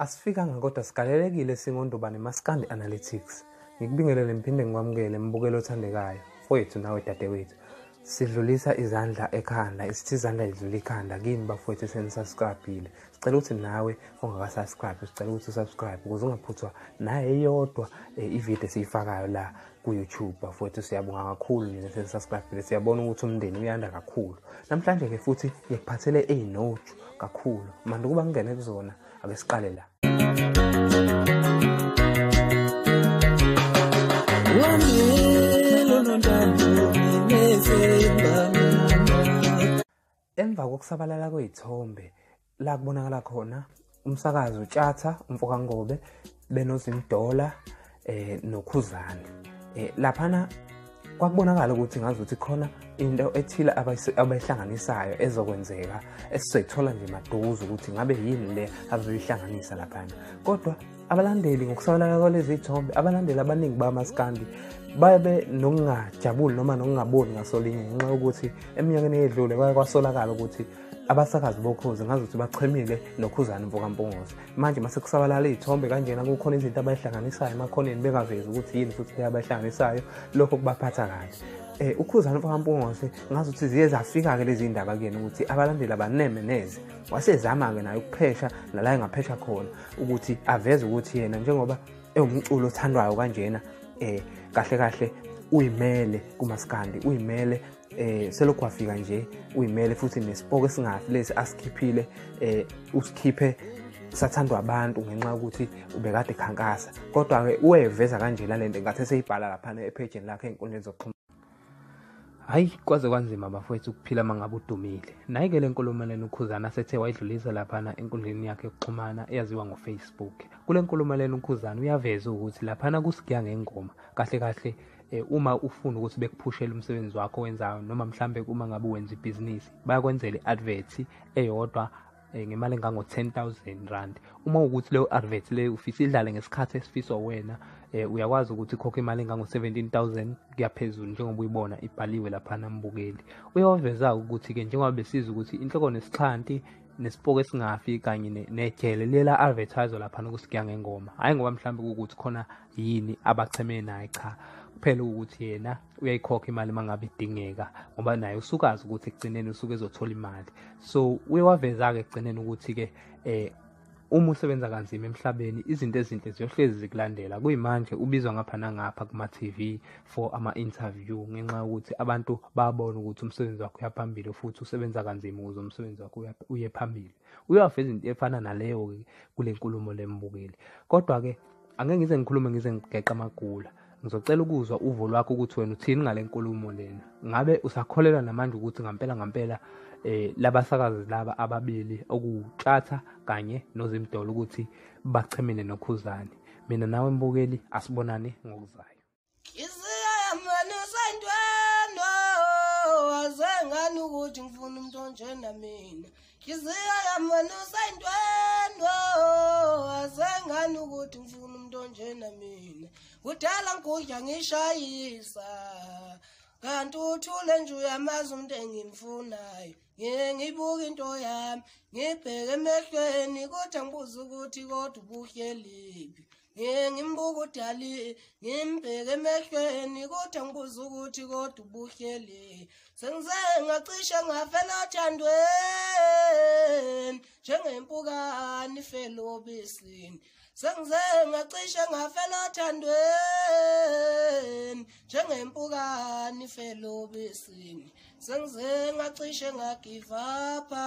Asifikanga kodwa sigalelekile singondubane maskandi analytics. Ngikubingelele ngiphinde ngikwamukele mbukelo othandekayo. Mfowethu nawe dadewethu. Sidlulisa izandla ekhanda, isithi izandla lidlula ikhanda kini bafowethu esenisubscribile. Sicela ukuthi nawe ongakasubscribe, sicela ukuthi usubscribe ukuze ungaphuthwa naye eyodwa eh, ivideo esiyifakayo la. ku-youtube bafowethu siyabonga kakhulu nina sesasibhadile siyabona ukuthi umndeni uyanda kakhulu namhlanje-ke futhi ngikuphathele eyinoju kakhulu mandi ukuba ngingene kuzona ake siqale la Emva kokusabalala kwey'thombe la kubonakala khona umsakazi utshatha umfoka ngobe benozimdola eh nokhuzane eh laphana kwakubonakala ukuthi ngazuthi khona into ethile abayihlanganisayo ezokwenzeka esizoyithola nje maduze ukuthi ngabe yini le abazoyihlanganisa laphana kodwa abalandeli ngokusabalaka kwalezi thombe abalandeli abaningi bamaskandi babe nokungajabuli noma nokungaboni ngasolinye ngenxa yokuthi eminyakeni eyedlule kwaye kwasolakala ukuthi abasakazi bokhozi ngazi ukuthi bachemile nokhuzane mvokampungose manje mase kusabalala iy'thombe kanjena kukhona izinto abayihlanganisayo emakhoneni bengavezi ukuthi yini futhi le abayihlanganisayo lokho kubaphatha kahle um eh, ukhuzane mfokampungose ngazi ukuthi ziye zafika-ke lezi ndaba kuyena ukuthi abalandeli abaneme neze wasezama-ke naye ukuphesha nala engaphesha khona ukuthi aveze ukuthi yena njengoba ewumculo othandwayo kanjena eh kahle kahle uyimele kumaskandi uyimele eh selokhu wafika nje uyimele futhi nesipoko esingafi lesi asikhiphile eh usikhiphe sathandwa abantu ngenxa yokuthi ubekade khankasa kodwa-ke uweveza kanjena le nto ngathi eseyibhala laphana ephejini lakhe ey'nkundleni zokuxhumana hayi kwaze kwanzima bafowethu ukuphila uma ngabe udumile nayi-ke le nkulumeleni ukhuzana asethe wayidlulisa laphana enkundleni yakhe yokuxhumana eyaziwa ngofacebook kule nkulumeleni ukhuzana uyaveza ukuthi laphana kusigiya ngengoma kahle kahle um uma ufuna ukuthi bekuphushele umsebenzi wakho wenzayo noma mhlawumbe uma ngabe wenza ibhizinisi bayakwenzela i-advert eyodwa eh, ngemali engango 10000 rand uma ukuthi leyo advert leyo ufisa idlale ngesikhathi esifiswa wena eh, uyakwazi ukuthi khokhe imali engango 17000 kuyaphezulu njengoba uyibona ibhaliwe lapha nambukeli uyawaveza ukuthi ke njengoba besiza ukuthi inhloko nesixhanti nesipoko esingafi kanye nejele lela advertise lapha nokusigiya ngengoma hayi ngoba mhlawumbe ukuthi khona yini abacheme naye cha kuphela ukuthi yena uyayikhokha imali uma ngabe idingeka ngoba naye usukazi ukuthi ekugcineni usuke ezothola imali so uye waveza-ke ekugcineni ukuthi-ke um uma usebenza kanzima emhlabeni izinto ezinhle ziyohlezi zikulandela kuyimanje ubizwa ngapha nangapha kuma-tv for ama-interview ngenxa yokuthi abantu babona ukuthi umsebenzi wakho uya phambili futhi usebenza kanzima ukuze umsebenzi wakho uye phambili uyawaveza into efana naleyo-ke kule nkulumo lembukeli kodwa-ke angeke ngize ngikhulume ngize ngigeqa amagula Ngizocela ukuzwa uvo lwakho ukuthi wena uthini ngale nkulumo lena. Ngabe usakholelwa namanje ukuthi ngampela ngampela eh labasakazi laba ababili okutshatha kanye nozimdolo ukuthi bachemene nokhuzani. Mina nawe mbukeli asibonane ngokuzayo. Isiyamanisanjwendo wazengani ukuthi ngifuna umuntu onjena mina. Nhliziyo yami wena usayintwendwa asengani ukuthi ngifuna umuntu onjena mina kudala ngigudla ngishayisa kanti uthule nje uyamazi umuntu engimfunayo ngike ngibuke into yami ngibheke emehlweni kodwa ngibuze ukuthi kodwa ubuhleliphi ngimbuka udali ngimbheke emehlweni kodwa ngibuza ukuthi kodwa ubuhleli sengize ngacishe ngafela othandweni njengempukani ifele obisini sengize ngacishe ngafela othandweni njengempukani ifele obisini sengize ngacishe ngagivapha